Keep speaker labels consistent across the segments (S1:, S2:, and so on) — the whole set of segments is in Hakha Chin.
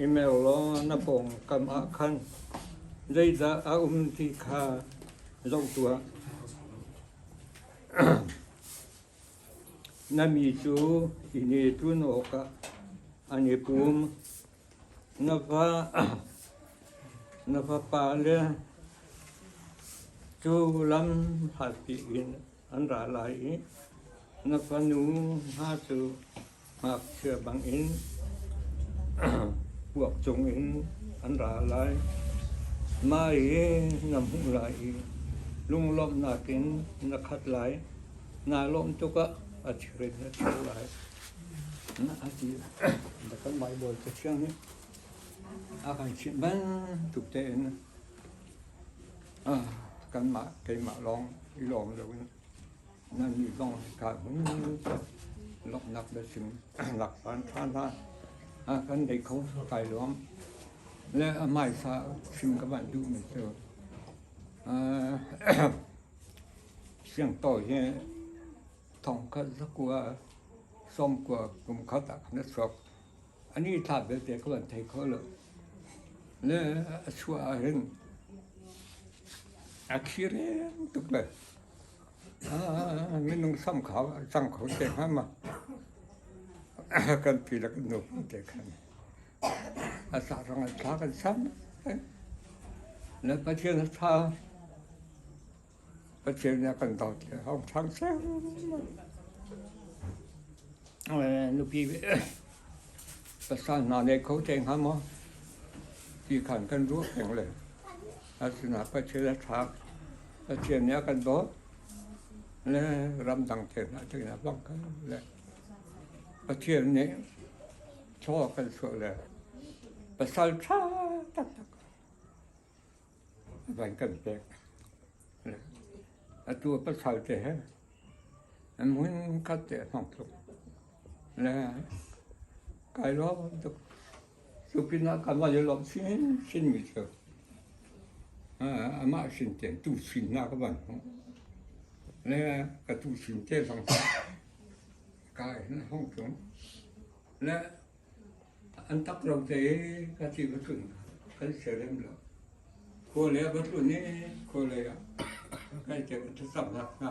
S1: Email law na pawngkam ah khan zeidah a um ti kha zoh tuah.
S2: Na mi cu i netun awkah an i pum. Na fa na fapa le cu lam hlatpi in an ra lai i na fanu hna cu Ngakchia bangin puak cungin an ra lai. Mai hi na hmuh lai i lunglawmhnak in na khat lai. Naa lawmh tukah a thir in na thir lai. Na a ti lai. Da kanmah i bawi Cathiang nih a kan chimh bantuk tein ah kanmah keimah lawng i lawm loin Nannih zong ṭha hmun tiah lawmhnak biachim lak phan ṭhan hlah. A kan deih kho kai lawm. Le a hmaisa chim ka van duhmi cu siangpaw hi thongkhat zakua sawmkua kum khat ah na chuak. Ani tha belte ka van thei kho lo. Le a chuah ah hin a khir tuk le Minung sam kha cang kho te hnga ma. Kan pi le kan nu te khan. A sa rang a tha kan sam. Le Pathian a tha. Pathian nih a kan dawt le hong thang sem. Nupi pasal hna nei kho te hnga ma. Ti khan kan ruah peng le. A sinah Pathian a ṭha. Pathian nih a kan dawt. Le ramdang thlen ah cun a bangka le Pathian nih thlaw a kan suah le pasal ṭha taktak a van kan pek. Le atu a pasal te he hmun khat te a hmang tluk. Le kai lo tuk Cu pinah kanmah le lawmh chinchinmi cu amah sin tein tu sinnak a van hmuh. Le ka tu sin te zong kai na hong cung. Le an tak lo te ka ti ka tlun kan serem lo. Khua le ka tlun i khua le ah kai te ka tsamnak hna.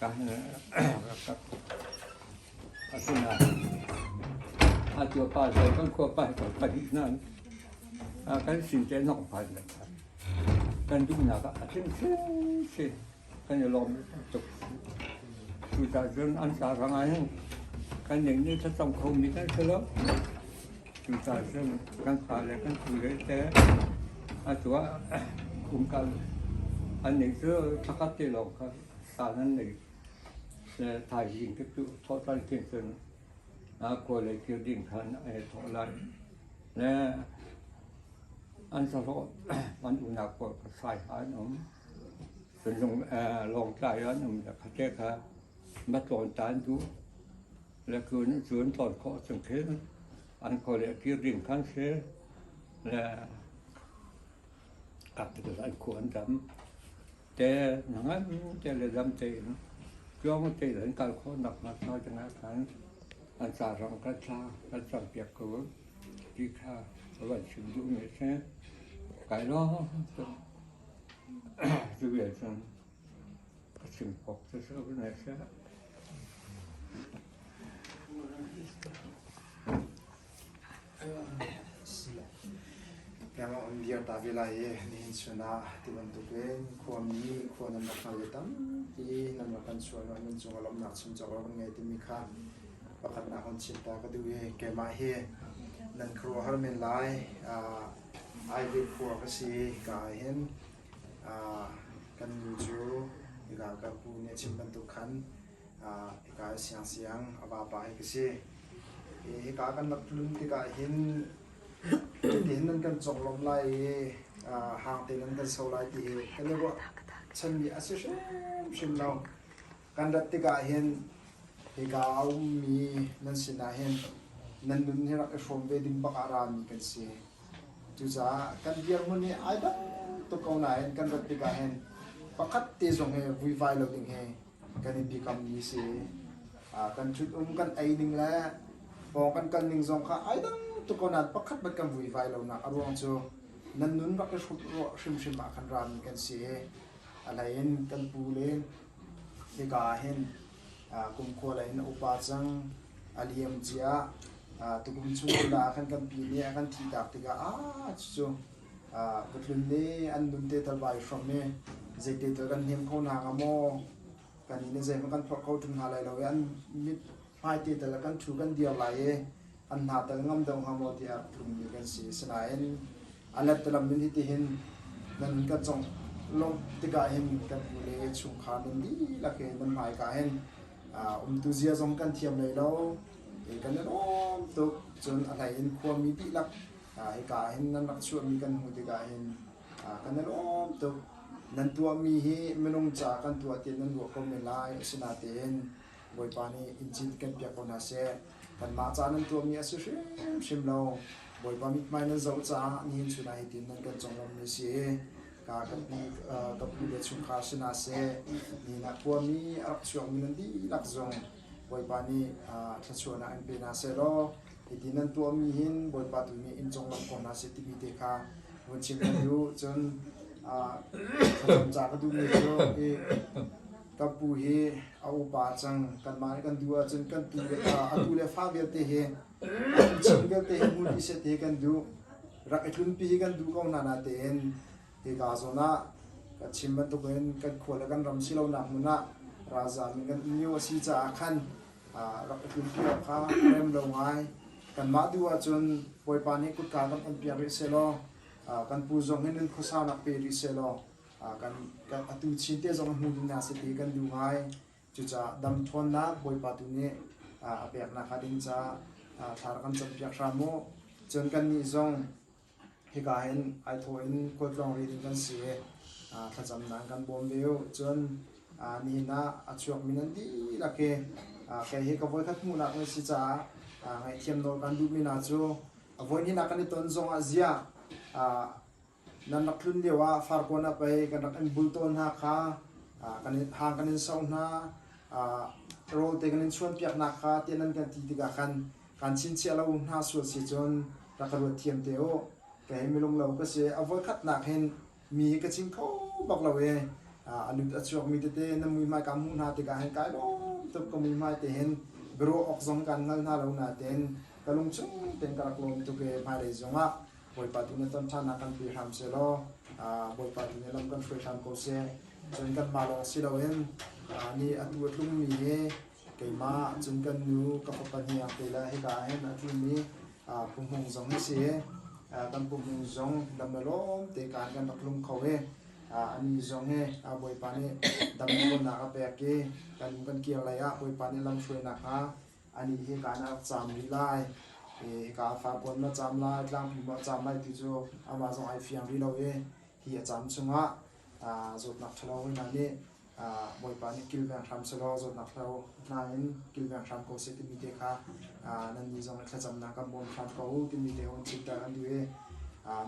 S2: ka hne ka kak. Asinain atu pa zong kan khuapa kan pahnih nan kan sin te nok phan le kan duhnak a tling hrimhrim kan i lawm tuk. Tutan cun an sa rang ahhin kan ning nih thla tong khomi kan si lo. Cucaan cun kan fale kan pule te a tuah kumkal an nih cu thakhat te lawng kha saan an nei. Le thaizing cu cu thawhtan khin cun a kawlei kir ding khan ai thawh lai. Le an sahlawh an unak kor ka sai ha an um. Lawngtlai ah an um le khuate kha ma tlawn ta an duh. Le kun cu an tlawn khawh chung khin an kawl le kir ding khan si le capital an khu an dam. Te na ngan te le dam tein cuang te
S3: in an kal khawh nak nak na dingah khan an ca rang kan tla kan cang piak ko ti kha a van chim duh mi si. Kai lo Cuvial cun ka chim kawk cu sau hna seh. Kengah an dir ta ve lai i nihin chun ah ti bantuk in khuami khua nan rak hngal tampi nan rak kan sual nan cung a lomnak chim cawk kan ngei timi kha pakhatnak hun chim ta ka duh i keimah hi nan khuaruahhar men lai. Aive khua ka si ka ahhin kan nu cu hika ka pu nih a chim bantuk khan hika i siangsiang a vapa hi ka si. Hika kan rak tlun tikah hin tihin nan kan conglawmh lai i hang tein nan kan so lai ti hi kan i ruahchanmi a si hrimhrim lo. kan rat tikah hin hika a ummi nan sinah hin nan nun hi rak i hrawm ve ding bak ah rami kan si. Cucaah kan dirhmun hi ai dang tuk ko nain kan rat tikah hin pakhat te zong hi vuivai lo ding hi kan in biakammi si. Uh, kan ṭhutum kan ei ning le pawng kan kal ning zong kha ai dang tuk ko nain pakhat bat kan vuivai lo nak a ruang cu nan nun rak i hrut rawh hrimhrim ah kan rami kan si i a hleiin kan pu le Hika ah hin kumkhua lei in a upa cang. A liam cia. Tukum chung ngundah ah khan kan pin i a kan thihtak tikah aa cucu patlun le an nunte tal vai hram i zeite tal kan hnem kho hna hnga maw? Kan inn le zeihmanh kan phorh kho ṭung hna lai lo i an mit hmaite tal ah kan ṭhu kan dir lai i an hna tal ngam deuh hnga maw tiah tlungmi kan si. Asinain a let lam in hitihin nan kan cong lawng tikah hin kan hnu le chungkhar nan dihlak he nan hmaika hin umtu zia zong kan thiam lei lo kan i lawm tuk cun a hlei in khuami dihlak hika hin nan rak chuahmi kan hnu tikah hin kan i lawm tuk nan tuahmi hi minung ca kan tuah tiah nan ruah ko men lai asinain Bawipa nih inn cin kan piak ko hna seh. Kanmah ca nan ṭuanmi a si hrimhrim lo. Bawipa mithmai nan zoh caah nihin chun ah hitin nan kan conglawmhmi si i ka kan pi tawppi le chungkhar si hna seh. Ni na kuami a rak chuakmi nan dihlak zong Bawipa nih thluachuah ah an pe hna seh law hiti nan tuahmi hin Bawipa tu nih in conglawmh ko hna seh timi te kha vun chim len u. Cun thlacam ca ka duhmi cu i kan pu hi a upa cang kanmah nih kan duh ahcun kan pi vialte a tu le fa vialte hi a tuchan vialte hi hmun i set hi kan duh rak i tlunpi hi kan duh ko hna na tein hika zawn ah kan chim bantuk in kan khua le kan ram si lonak hmun ah ralzam in kan um lio a si caah khan rak i tlunpi awk kha rem lo ngai kanmah duh ahcun bawipa nih kutka kan on piak rih sehlaw kan pu zong hi nun khuasa nak pe rih sehlaw atu Chin te zong hnu ding nak si ti kan duh ngai. Cucaah dam ṭhawnnak Bawipa tu nih a pek nakhnga ding ca thla rak kan campiak hram u. Cun kannih zong hika hin ai thawh in kuatlawng ri ding kan si i thlacamnak kan bawm ve u. Cun nihin ah a chuak mi nan dihlak i kei hi ka voikhat hmuhnak na si caah ngaihthiam nawl kan duhmi hna cu a voihnihnak kan i ton zongah ziah Nan rak tlun lio ah Farkawn ah pei kan rak in bul taw hna kha hang kan in soh hna. Rawl te kan in chuanpiak hna kha tiah nan kan ti tikah khan kaan chinchiah lo hna sual si cun rak ka ruat thiam te u. Kei hi milunglo ka si. A voikhatnak hin mi hi ka chim kho bak lo i a lut a chuak mi tete nan muihmai kaan hmuh hna tikah hin kai lawm tuk ka muihmai te hin biaruah awk zong kaan hngal hna lo nain ka lungchung tein ka rak lawm tuk i hmailei zongah Bawipa tu nih tonṭhanak kan pe hram seh law Bawipa tu nih lam kan hruai hram ko seh. Cun kanmah lawng si loin nih a tu a tlungmi he keimah, cun kan nu, ka fapa nih Artela hika ahhin a tlumi Pu Hmung zong a si i kan Pu Hmung zong dam le lawm te kaan kan rak lung kho i anih zong hi Bawipa nih dam khawhnak a pek i kan inn kan kir lai ah Bawipa nih lam hruai nakhnga anih hi kaan a rak caam rih lai i ka farbuan ma caam lai tlangpi ma caam lai ti cu amah zong ai fiang rih lo i hi a caam chungah zawtnak ṭhalo hna nih Bawipa nih kilveng hram selaw zawtnak ṭhalo hna in kilveng hram ko seh timi te kha nannih zong i thlacamnak kan bawm hram ko u timi te hong chimter an duh i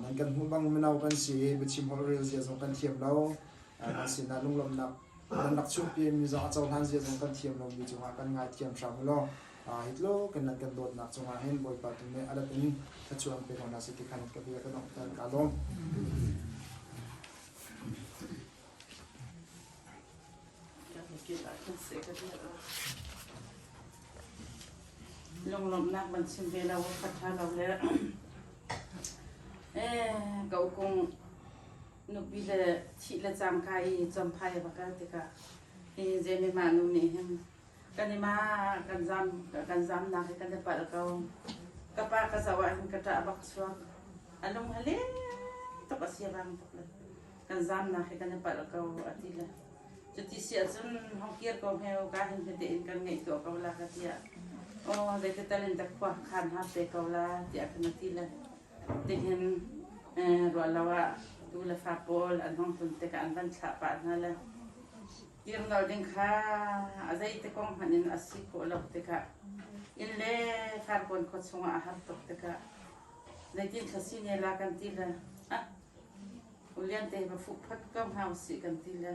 S3: nan kan hmuh bang mino kan si i biachim holhrel zia zong kan thiam lo kan sinah lunglawmhnak Rak chuahpi miza a cohlan zia zong kan thiam lomi cungah kan ngaithiam hram ulaw hi tluk in nan kan dawtnak cungah hin Bawipa tu nih a let in thlachuan pe ko hna sih ti khan ka bia ka donghter kaa lawm. Lunglawmhnak ban chim ve lo, fatha lo le
S1: eh, kau kung nupi le thih le cangka i chomphai a va kal tikah i Jamie ma nu nih hin kan ima kan zam kan zamnak hi kan i palh ko ka pa ka zo ah hin ka ṭah bak chuak a lung a leng tuk a si bang tuk le kan zamnak hi kan i palh ko a ti le cuti si ahcun hongkir ko heu ka hin hite in kan ngeih tuah ko la ka tiah o zeitital in tak khua khan ha pe ko la tiah kan ti le Tihin ruahlo ah tu le fa pawl an hong tlun tikah an van thlah pah hna le kirnal ding kha a zeiti kong hmanh in a si khawh lo tikah inn le farkawn khua chungah a har tuk tikah zeitin thlasi ne la kan ti le ah ulian te va fuh phot ko hna usih kan ti le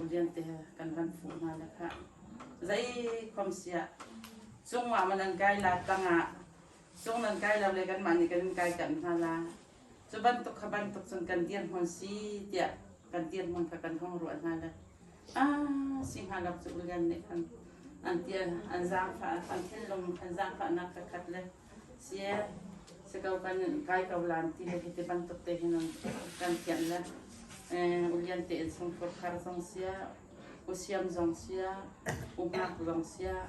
S1: ulian te kan van fuh hna le kha zei khom sia cungah man an kai la tangah Cung nan kai lo le kanmah nih kan in kaiṭamh hna lai. Cu bantuk kha bantuk cun kan dirhmun si tiah kan dirhmun kha kan hung ruah hna le a si hnga lo cu Ulian nih an an ti an zaangfah an thinlung an zaangfahnak ka khat le si e si ko kan kai ko lan ti le hi ti bantuk te hin an kan thianh le eh, ulian te in chung khurkhar zong sia Usiam zong siah, umnak zong siah,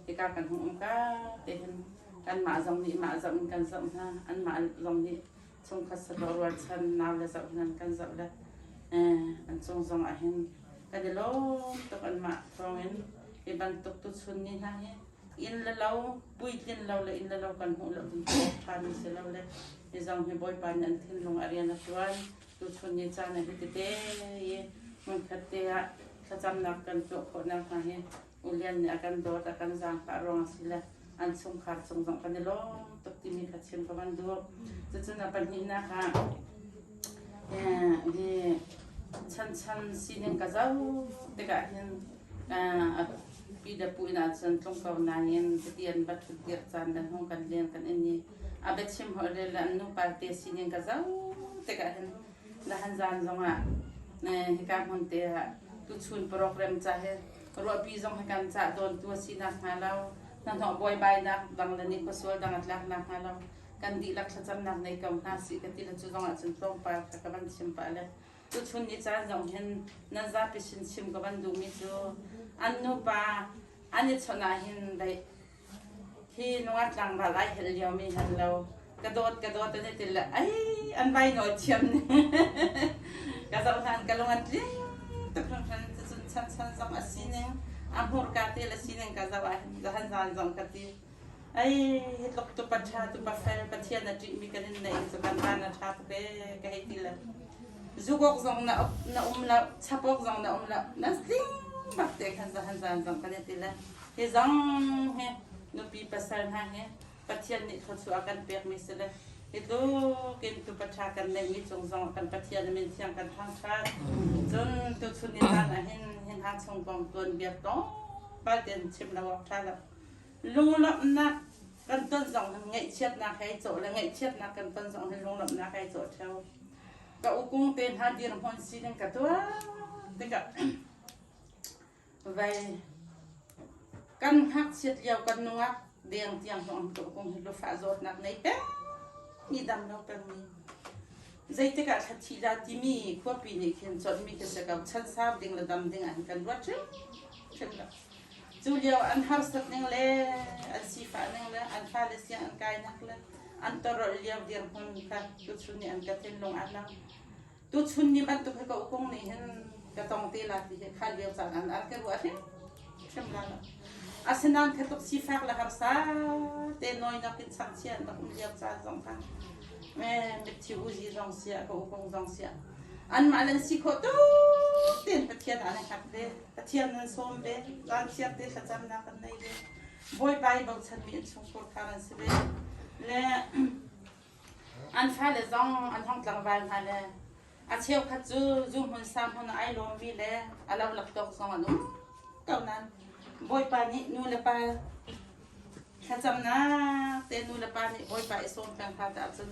S1: hika kan hung um ka tehin kanmah zong nih mah zoh in kan zoh hna. Anmah zong nih chungkhat sato ruatchan nau le zoh hnan kan zoh le eh, an cung zong ahhin kan i lawm tuk anmah thawngin hi bantuk tuchun ni hna hi inn le lo puitlin lo le inn le lo kan hmuh lo ding ṭhan si lo le hi zong hi Bawipa nih an thinlung a rian a ṭuan Tuchun ni caan ah hitite i hmunkhat te ah thlacamnak kan tuah khawh nakhnga hi U Lian nih a kan dawt, a kan zaangfah ruang a si le an chungkhar cung zong kan i lawm tuk timi kha chim ka van duh. Cucun a pahnihnak ah eh, hi chanchan sining ka zoh tikah hin eh, Pi Dapu inn ah cun tlung ko nain cuti an va ṭhutdirh caan nan hung kan leng kan in i a biachim holh rel le an nupalte sining ka zote ka hin nahan zaan zongah hika hmunte ah tuchun program ca hi ruahpi zong hi kan cah dawntu a si nak hnga lo hnahnawh buaibainak dang le nikhuasual dang a tlak nak hnga lo kan dihlak thlacamnak nei ko hna sih ka ti le cu zongah cun tlawmpal kha ka van chim pah le Tuchun i caan zong hin nan zapi sin chim ka van duhmi cu an nupa an i chawnh ah hin daih hi nunga tlangval ai hel lio mi hal lo ka dawt ka dawt an i til le ai an vai nawl thiam ne ka zoh hlan ka lung an tling tuk hran hran tuchun chan chan zong a sining a hmurka te le sining ka zoh ah hin zahan zan zong ka ti Ai tluk tupa ṭha tupa fel Pathian a ṭihmi kan in neih cu kan tan a ṭha tuk ee ka hei ti le zugawk zong na uk na um lo chapawk zong na um lo na zing bak te khan za han zan zong kan i ti le hi zong hi nupi pasal hna hi Pathian nih thawchu a kan pekmi si le hi tlukin tupa ṭha kan neihmi cung zong kan Pathian a min thiang kan thangṭhat cun tuchun i tan ahhin hi hna chung kong tuanbia tlawmpal ten chim lo awk ṭha lo lunglawmhnak kan ton zong hi ngaihchiatnak he cawh le ngaihchiatnak kan ton zong hi lunglawmhnak he cawh theo ka ukung te hna dirhmun sining ka tuah tikah vai kan ngakchiat lio kan nungak deng tiang hong ka ukung hi lufa zawtnak nei pe mi dam lo kan mi zeitik ah thlathi la timi khuapi nih khin chawt mi ka se ka chan sab ding le dam ding ah kan ruat hrim hrim Cu lio an harsat ning le an sifah ning le an fale sia an kainak le an torolh lio dirhmun kha tuchun nih an ka thinlung a lang. Tuchun ni bantuk hi ka ukung nih hin ka tong te la ti hi kha lio caan an ar ke ruah hrim hrim la lo. Asinain khatluk sifak le harsa te noinak in chakchia na um lio caan zong kha me mitthi uzi zong sia ka ukung zong sia anmah le si khawh tuk tein Pathian an i hngak ve. Pathian an sawm ve, vanchiar te thlacamnak an nei ve, bawipa i bochanmi innchungkhur thar an si ve. Le an fale zong an hong tlangval hna le a cheukhat cu zu hmun sa hmun ai lawmmi le a lo laptawk zong an um ko nan bawipa nih nu le pa thlacamnak te nu le pa nih bawipa i sawm peng hna ta ahcun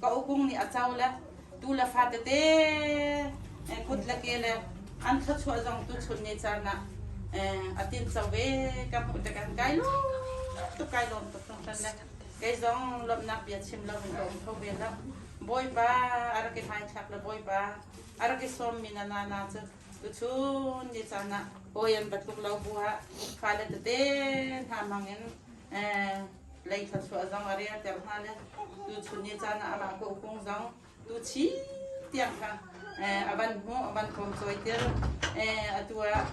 S1: ka upung nih a co le tu le fa tete kut le ke le an thluachuah zong tu chun ne caan ah a tin cho ve ka hmuh te kan kai lo tu kai lom tuk tung tan le kei zong lomnak bia chim lo in lom tho ve lo bawipa a rak i thaithlak le bawipa a rak i som mi na na na cu tu chun ni caan ah oyan batluk lo bu ha fa le tete hna mang in lei thluachuah zong a relter hna le tuchun ni caan ah amah kokung zong tuchi tiang kha a van hmu a van pawm cawi tir atu ah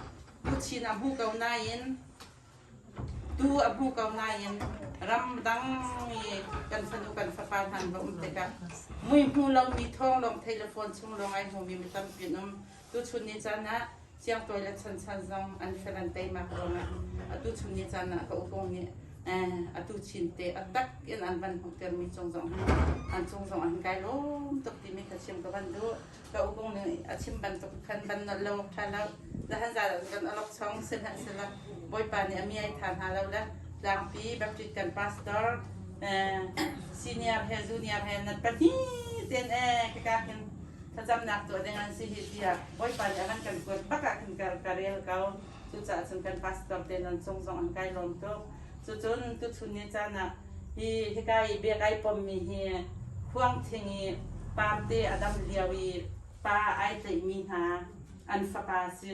S1: tuchin a hmu ko nain tu a hmu ko nain ram dang i kan fanu kan fapa hnan va um tikah mui hmu lomi thawng lawng thei le phone chung lawng ai hmu mi tampi um Tuchun ni caan ah siangtawi le chanchan zong an fel an teimak ruangah atuchun ni caan ah ka upung nih atu chinte a tak in an van hmuhtermi cung zong hin an cung zong an kai lawm tuk timi ka chim ka van duh ka upung nih a chim bantuk khan ban nolh lo tha lo dahan zaa kan alok chong sihlah sila bawipa nih a miai tha hna lo le tlangpi baptist kan pastor senior he junior he nat pahnih ten e ka ka hin thlacamnak tuah ding an si hi tiah Bawipa nih a kan kan kuat bak ah khin ka rel ko. Cucaah cun kan pastor te nan cung zong an kai lawm tuk. Cucun tuchun ni caan ah hi hika i bia kai pommi hi khuangthing i paamte a dam lio i pa ai tleihmi hna an fapa si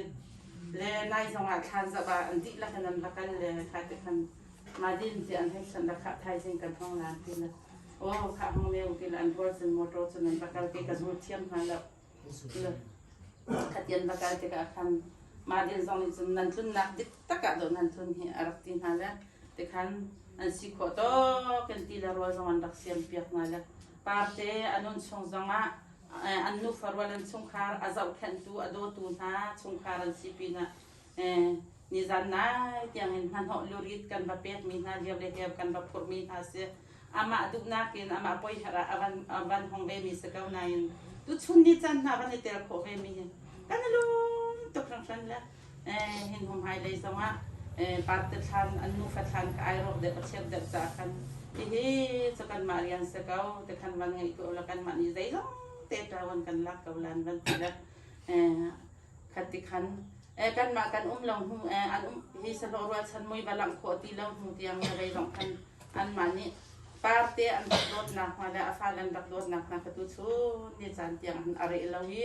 S1: le nai zong ah thlan zoh ah an dihlak in an va kal le kha ti khan Madin hi an hei san la khah thaizing kan hong lan ti le Wow, ka hang leu ti la an rual cun motor cun an va kal ti ka zul thiam hna lo. Khatian va kal ti ka khan Madin zong nih cun nan tlunnak dik takah do nan tlun hi a rak ti hna le tikhan an si khawh tok kan ti le rual zong an rak siam piak hna le parte anun chung zong ah an nufa rual an chungkhar a zohkhenhtu a dawtu hna chungkhar an si pinah Nizan nai tiangin hnahnawh lurit kan va pekmi hna lio le heu kan va phurhmi hna si. Amah duhnak in amah poiher ah a van a van hong vemi si ko nain tuchun ni chan hna van i tel khawh vemi hi kan i lum tuk hringhran le hin hum hai lei zongah pat te thlan an nufa thlan ka ai rawk deuh a chiat deuh ca khan hihi cu kanmah rian si ko te khan van ngeih ko la kanmah nih zeilong te ṭawan kan lak ko lan van ti le khat ti khan eh kanmah kan um lo hnu eh an um hi salo rualchan mui va langh khawh ti lo hnu tiang le rei lawng khan anmah nih parte an rak dawtnak hna le a fal an rak dawtnak hna kha tu chun ni caan tiang an are lo i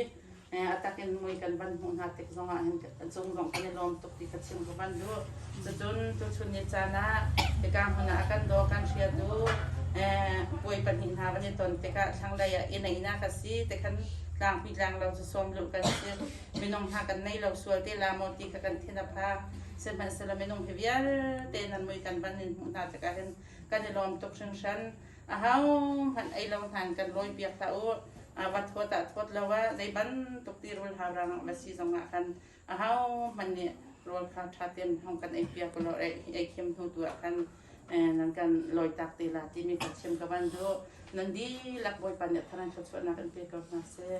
S1: eh atakin mui kan van hmuh hna tik zongah hin cung zong kan i lawm tuk ti ka chim ka van duh. Cucun tuchun ni caan ah hika hmun ah kan daw kan hriatu puai pahnih hna van i ton tikah thlanglei ah inn einak ka si te khan tlangpi tlang lo cu sawm luh kan si minung hna kan nei lo sual te la maw ti kha kan thin a pha sihmanhsehlaw minung hi vialte nan mui kan van in hmuh hna tikah hin kan i lawm tuk hringhran a hohmanh ei lo hna in kan lawi piak hlah u va thawt ah thawt lo ah zei bantuk tirul haurang ma si zongah khan ahohmanh nih rawl kha ṭha tein hong kan ei piak ulaw ei thiam hnu tu ah khan nan kan lawitak te la timi ka chim ka van duh nan dihlak bawipa nih tharan thluachuahnak in pe ko hna seh